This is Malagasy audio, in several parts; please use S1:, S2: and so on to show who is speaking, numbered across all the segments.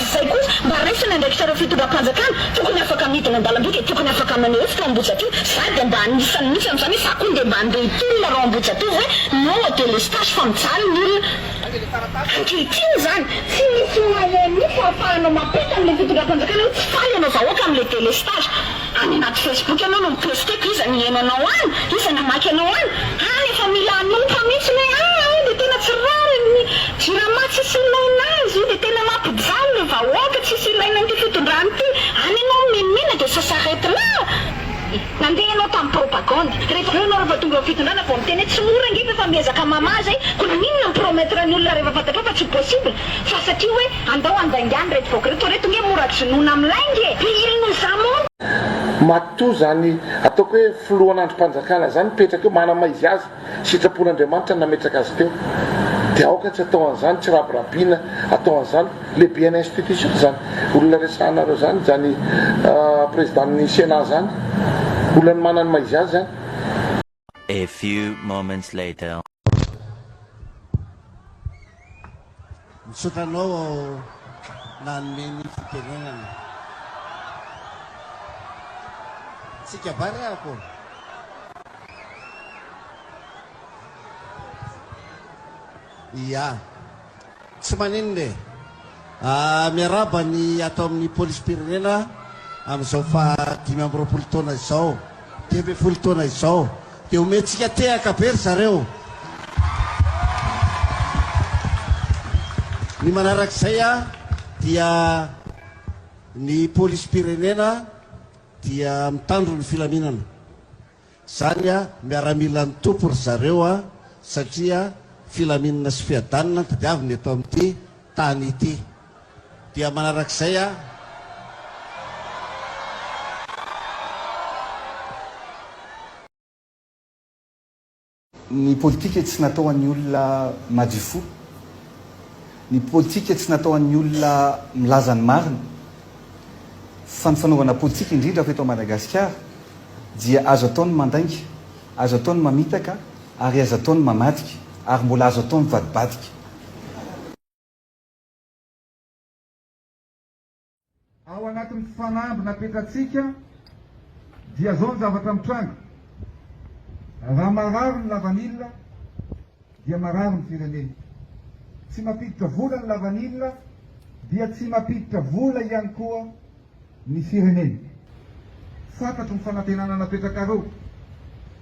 S1: Izay koa, mba raiso ny andraikitrareo fitondram-panjakana, tokony afaka midina an-dalamby dia tokony afaka maneho hevitra ao Ambohijatovo, za dia mba anisany mihitsy amin'izany hoe za koa ndeha mba handeha hitolona reo Ambohijatovo hoe non au délestage fa mijaly ny olona ankehitriny izany, tsy misy moyen mihitsy ahafahana mampita an'ilay fitondram-panjakana hoe tsy faly ianao vahoaka amin'ilay délestage. Any anaty Facebook ianao no mi-posteko iza no hihaino anao any? Iza no hamaky anao any? Any efa mila hanompa mihitsy ny hoe aa io dia tena tsy rariny ny jirama tsisy ilaina azy io dia tena mampijaly ny vahoaka tsisy ilaina an'ity fitondrana ity any ianao mimenimena dia ça s'arrête là nandeha ianao tamin'ny propagande rehefa avy eo ianao rehefa tonga eo amin'ny fitondrana vao miteny hoe tsy mora ange fa efa miezaka mamaha izay koa na inona mi-promettre ny olona rehefa fantatrao fa tsy possible fa satria hoe Andao handaingany reto vahoaka reto, reto nge mora jonoina am lahy nge, de il nous
S2: a menti. Matoa zany ataoko hoe filohan andrimpanjakana zany mipetraka eo manama izy azy sitrapon Andriamanitra ny nametraka azy teo de aoka tsy atao anzany tsy rabirabiana atao anzany lehibean institution zany olona resahanareo zany zany president ny senat zany olona ny mananma izy azy zany A
S3: few moments later.
S4: Misaotra anao aho nanome ny fitenenana. Tsika barea-ko. Ia. Tsy maninona e! Miarahaba ny ato amin'ny Polisim-pirenena amin'izao faha dimy amby roapolo taona izao, dimy ambin'ny folo taona izao. Dia omentsika tehaka be ry zareo. Ny manarak'izay dia ny Polisim-pirenena dia mitandro ny filaminana. Zany a miaramilan'ny Tompo ry zareo a satria filaminana sy fiadanana no tadiaviny eto amin'ity tany ity. Dia manarak'izay a.
S5: Ny politika tsy natao ho an'ny olona madio fo. Ny politika tsy natao ho an'ny olona milaza ny marina. Fa ny fanaovana politika, indrindra fa eto Madagasikara, dia azo atao ny mandainga, azo atao ny mamitaka ary azo atao ny mamadika, ary mbola azo atao mivadibadika.
S6: Ao anatin'ny fanamby napetratsika dia zao ny zavatra mitranga, raha marary ny lavanila dia marary ny firenena, tsy mampiditra vola ny lavanila dia tsy mampiditra vola ihany koa ny firenena. Fantatro ny fanantenana napetrakareo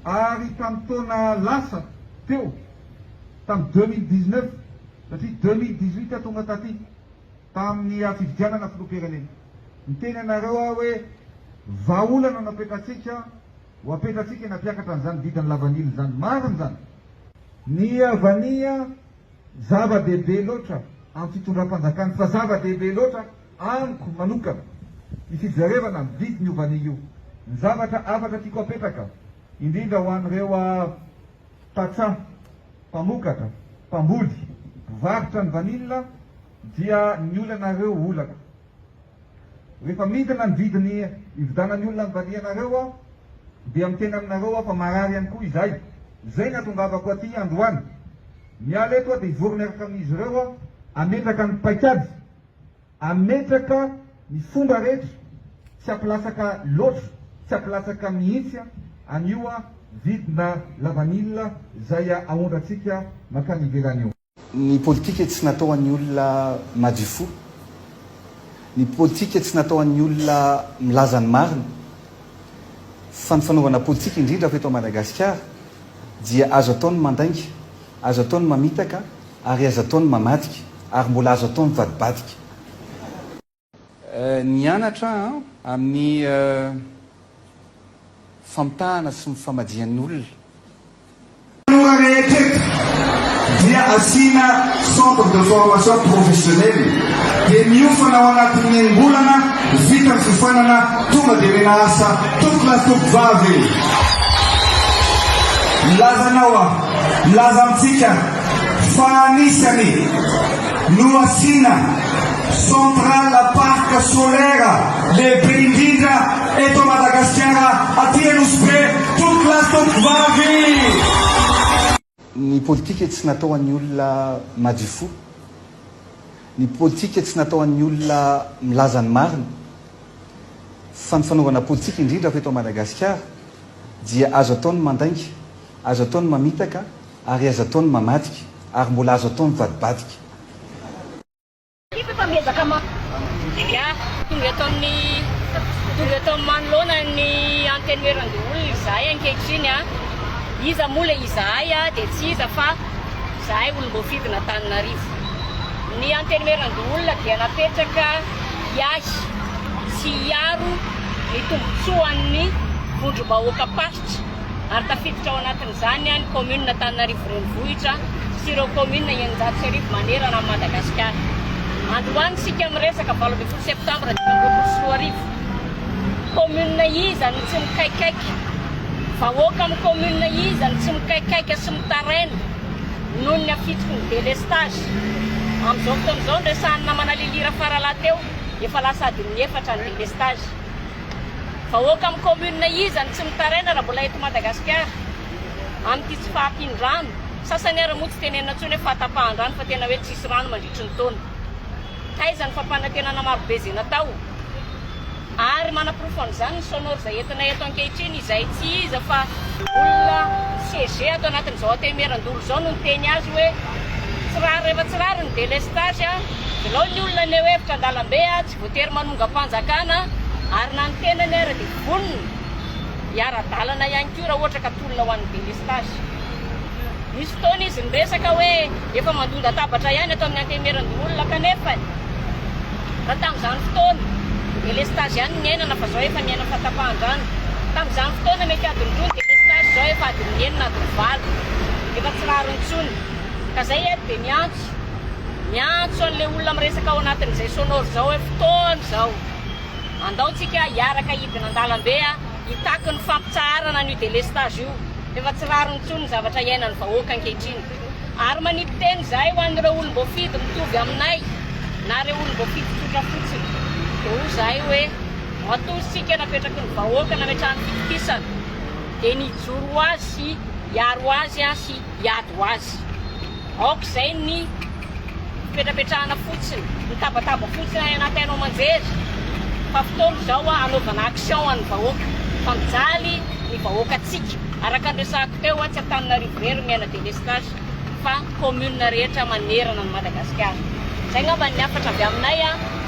S6: ary tamin'ny taona lasa teo, tamin'ny deux mille dix-neuf satria deux mille dix-huit aho tonga taty, tamin'ny fifidianana filoham-pirenena. Niteny anareo aho hoe vahaolana no apetratsika, ho apetratsika eny am-piakatra an'izany vidin'ny lavanila izany. Marina izany. Ny havania zava-dehibe loatra amin'ny fitondram-panjakana, fa zava-dehibe loatra amiko manokana ny fijerevana ny vidin'io vania io. Ny zavatra hafatra tiako apetraka, indrindra ho an'ireo tantsaha, mpamokatra, mpamboly, mpivarotra ny vanila dia ny olanareo olako. Rehefa midina ny vidiny ividanan'ny olona ny vanianareo aho dia miteny aminareo aho fa marary ihany koa izahay. Izay ny hatongavako aty androany. Miala eto aho dia hivory miaraka amin'izy ireo aho hametraka ny paikady. Hametraka ny fomba rehetra tsy hampilatsaka loatra, tsy hampilatsaka mihitsy an, an'io an vidina lavanila zay aondrantsika mankany ivelany io. Ny politika
S5: tsy natao ho an'ny olona madio fo. Ny politika tsy natao ho an'ny olona milaza ny marina. Fa ny fanaovana politika indrindra fa eto Madagasikara dia azo atao ny mandainga, azo atao ny mamitaka, Ary aza atao ny mamadika. Ary mbola azo atao mivadibadika. Nianatra an amin'ny famitahana sy ny famajian'olona. Tanora rehetra eto
S7: dia asiana centre de formation professionnelle dia miofana ao anatin'ny enim-bolana vita ny fiofanana tonga dia omena asa tompolahy tompovavy e! Milaza anao aho, milaza amintsika Fa anisany no asiana centrale parc solaire lehibe indrindra eto Madagasikara aty Anosy Be tompoko lahy tompoko vavy.
S5: Ny politika tsy natao an'ny olona madio fo. Ny politika tsy natao an'ny olona milaza ny marina. Fa ny fanaovana politika indrindra fa eto Madagasikara dia azo atao ny mandainga, azo atao ny mamitaka, Ary aza atao ny mamadika. Ary mbola azo atao mivadibadika. Tiako efa miezaka ma
S8: dia tonga eto amin'ny tonga eto amin'ny manoloana ny Antenimierandoholona izahay ankehitriny a! Iza moa ilay izahay a! Dia tsy iza fa izahay olom-boafidin'Antananarivo. Ny Antenimierandoholona dia napetraka hiahy sy hiaro ny tombontsoan'ny vondrom-bahoaka-paritra. ary tafiditra ao anatin'izany ny kaominina Antananarivo Renivohitra sy ireo kaominina eninjato sy arivo manerana an'i Madagasikara. Androany isika miresaka valo ambin'ny folo septambra dimy amby roapolo sy roa arivo. Kaominina iza no tsy mikaikaika? Vahoaka amin'ny kaominina iza no tsy mikaikaika sy mitaraina noho ny hafitsiky ny delestazy? Amin'izao fotoana izao, noresahan'ny namana Lily Rafaralahy teo, efa lasa adin'ny efatra ny delestazy. Vahoaka amin'ny commune iza no tsy mitaraina raha mbola eto Madagasikara? Amin'ity tsy fahampian-drano, sasany ary moa tsy tenenina intsony hoe fahatapahan-drano fa tena hoe tsisy rano mandritry ny taona. Taiza ny fampanantenana marobe izay natao? Ary manaporofo an'izany ny sonore izay entinay eto ankehitriny izay tsy iza fa olona CG ato anatin'izao Antehimerandoro izao no niteny azy hoe tsy rariny rehefa tsy rariny ny delestage, velao ny olona anie hoe hevitra an-dalambe. Voatery manongam-panjakana ary na ny tenany ara dia vonona hiara-dalana ihany koa raha ohatra ka tolona ho an'ny delestazy. Nisy fotoana izy niresaka hoe efa mandondatabatra ihany ato amin'ny Antemeran-doholona kanefa raha tamin'izany fotoana delestazy ihany no niainana fa izao efa miaina fahatapahan-drano. Tamin'izany fotoana mety adiny roa ny delestazy izao efa adiny enina adiny valo efa tsy rariny intsony ka izay eto dia miantso Miantso an'ilay olona miresaka ao anatin'izay sonore izao hoe fotoana izao. Andao tsika hiaraka hidina an-dalambe hitaky ny fampitsaharana an'io delestage io. Efa tsy rariny intsony ny zavatra iainan'ny vahoaka ankehitriny. Ary manipy teny izahay ho an'ireo olom-boafidy mitovy aminay na ireo olom-boafidy tsotra fotsiny. Dia hoy izahay hoe matoa isika napetraky ny vahoaka nametraha ny fitokisana dia ny hijoro ho azy sy hiaro azy sy hiady ho azy. Aoka izay ny fipetrapetrahana fotsiny, ny tabataba fotsiny any anaty haino aman-jery fa fotoana izao hanaovana action ho an'ny vahoaka fa mijaly ny vahoakantsika. Araka ny resahako teo, tsy Antananarivo irery miaina délestage fa commune rehetra manerana an'i Madagasikara. Izay angamba ny hafatra avy aminay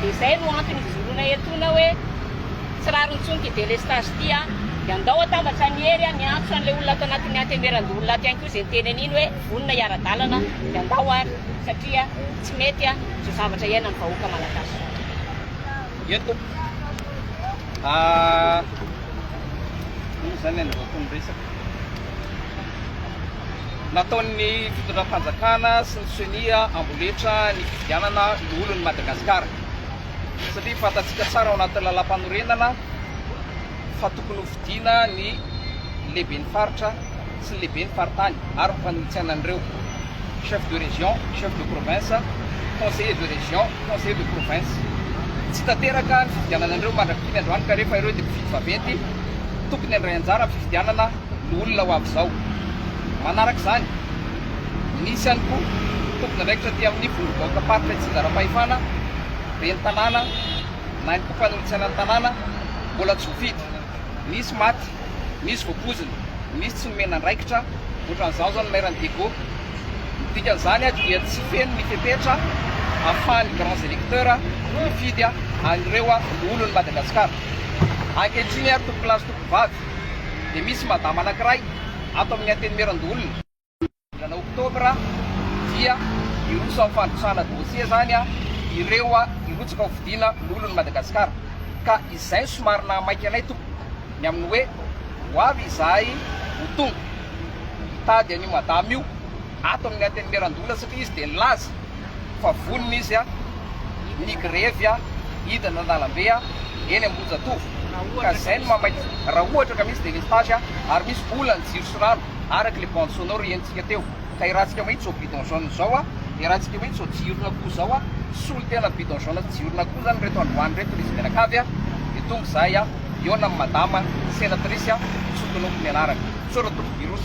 S8: dia izay no antony hijoroana etoana hoe. Tsy rariny intsony ity délestage ity an! Dia andao atambatra an'i Hery an! Miantso an'ilay olona ato anatin'ny antemeran-doholona ato ihany koa izay niteny an'iny hoe vonona hiara-dalana an! Dia andao ary satria tsy mety an! Izao zavatra iainan'ny vahoaka malagasy izao.
S9: Eny tompoko a! Inona izany ilay andrahoako ny resaka? Nataon'ny fitondram-panjakana sy ny ceni amboletra ny fifidianana loholon'i Madagasikara. satria fantatsika tsara ao anatin'ny lalàmpanorenana fa tokony hofidiana ny lehiben'ny faritra sy ny lehiben'ny faritany ary ny mpanohitsana an'ireo, chef de région, chef de province, conseiller de région, conseiller de province. Tsy tanteraka ny fifidianana an'ireo mandrak'itony androany ka rehefa ireo dia mpifidy vaventy, tokony handray anjara amin'ny fifidianana ny olona ho avy izao. Manaraka izany, Misy ihany koa tompon'andraikitra aty amin'ny vondrom-bahoakam-paritra Itsinjaram-pahefana, ben'ny tanàna na ihany koa fanolotsaina ny tanàna mbola tsy voafidy. Misy maty, misy voapoizina, misy tsy nomena andraikitra, ohatran'izany izao ny mairan'i Diego. Ny dikan'izany dia tsy feno ny fepetra ahafahan'ny grands electeurs mifidy an'ireo loholon'i Madagasikara. Ankehitriny ary tompon'lahy sy tomponvavy dia misy madama anankiray ato amin'ny Antenimieran-doholona. volana oktobra dia hiroso amin'ny fandrosana dossier zany ireo hirotsaka ho fidiana lolon'i Madagasikara ka izay no somary nahamaika anay tompoko ny amin'ny hoe ho avy izahay ho tonga hitady an'io madama io ato amin'ny antenimierandoholona satria izy dia nilaza fa vonona izy ny grevy hidina an-dalambe eny Ambohijatovo ka izay no mahamaika raha ohatra ka misy délestage ary misy vola ny jiro sy rano. araka le bande sonore henontsika teo ka iarahantsika mahitsy zao bidon jaune zao a iarahantsika mahitsy zao jirona koa zao a solo tena bidon jaune sy jirona koa zany reto androany reto izy mianakavy a de tonga zahay a hiona amin'ny madama senatrice a tsy tonoko ny anarany sora toko virus